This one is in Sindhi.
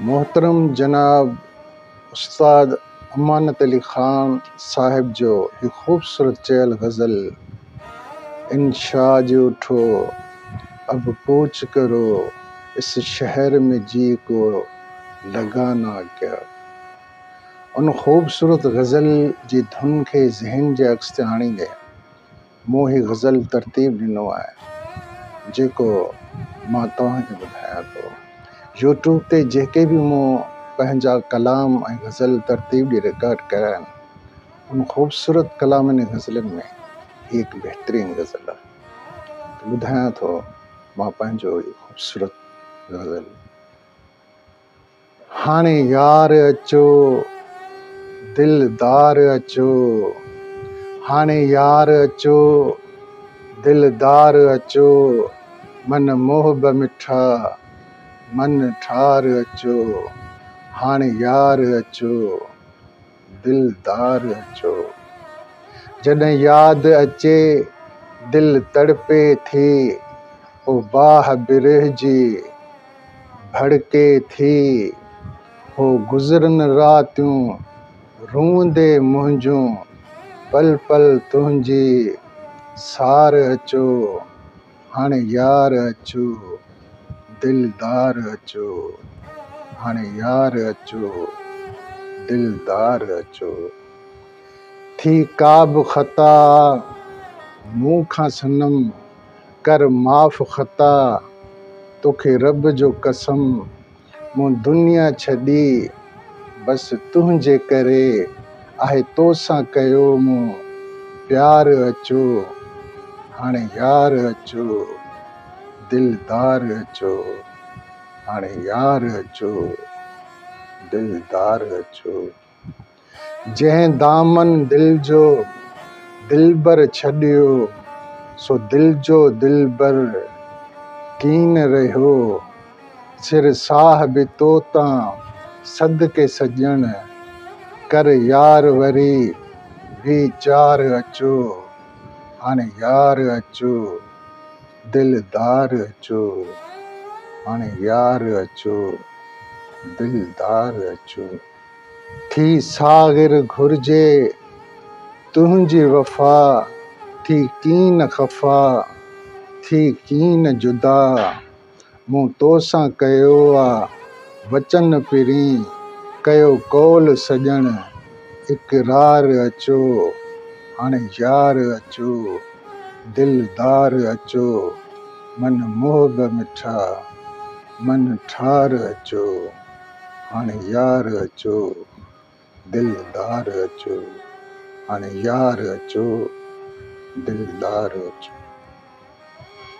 محترم جناب استاد امانت علي خان صاحب جو هي خوبصورت چيل غزل انشا جو ٺو اب ڪوچ ڪرو اس شهر مين جي ڪو لگا نا ڪيا ان خوبصورت غزل جي ڌن کي ذهن جي عڪس تي آڻيندي مون هي غزل ترتيب ڏنو آهي جيڪو مان توهان کي ٻڌايان ٿو يوٽيوب تي جيڪي به مون پنهنجا ڪلام ۽ غزل ترتيب ڏي رڪارڊ ڪيا آهن ان خوبصورت ڪلامن ۽ غزلن ۾ هي هڪ بهترين غزل آهي ٻڌايان ٿو مان پنهنجو خوبصورت غزل هاڻي يار اچو دلدار اچو هاڻي يار اچو دلدار اچو من محب مٺا من ٺار اچو هاڻي يار اچو دلدار جو جڏهن ياد اچي دل تڙپي ٿي هو باھ برهه جي ڀڙڪي ٿي هو گذرن راتيون روئندي منهنجون پل پل تنهنجي سار اچو هاڻي يار اچو دلدار اچو هاڻي يار اچو دلدار اچو ٿي ڪا به خطا مون کان صنم ڪر معاف خطا توکي رب جو قسم مون دنيا ڇڏي بس تنهنجي ڪري آهي توسان ڪيو مون پيار اچو هاڻي يار اچو دلدار اچو هاڻي يار اچو دلدار اچو جنهن دامن دل جو دلبر ڇڏيو، سو دل جو دلبر ڪين رهيو، سر ساھ به تو تان صدقي سڄڻ، ڪر يار وري وي چار اچو، هاڻ يار اچو، دل دار اچو، هاڻ يار اچو، دل دار اچو. ٿي ساغر گهرجي، تنهنجي وفا ٿي ڪين خفا، ٿي ڪين جدا، مون تو سان ڪيو آ وچن پرين، ڪيو قول سڄڻ اقرار اچو، هاڻي يار اچو، دلدار اچو، من محب مٺا، من ٺار اچو. هاڻي يار اچو دلدار اچو هاڻي يار اچو دلدار اچو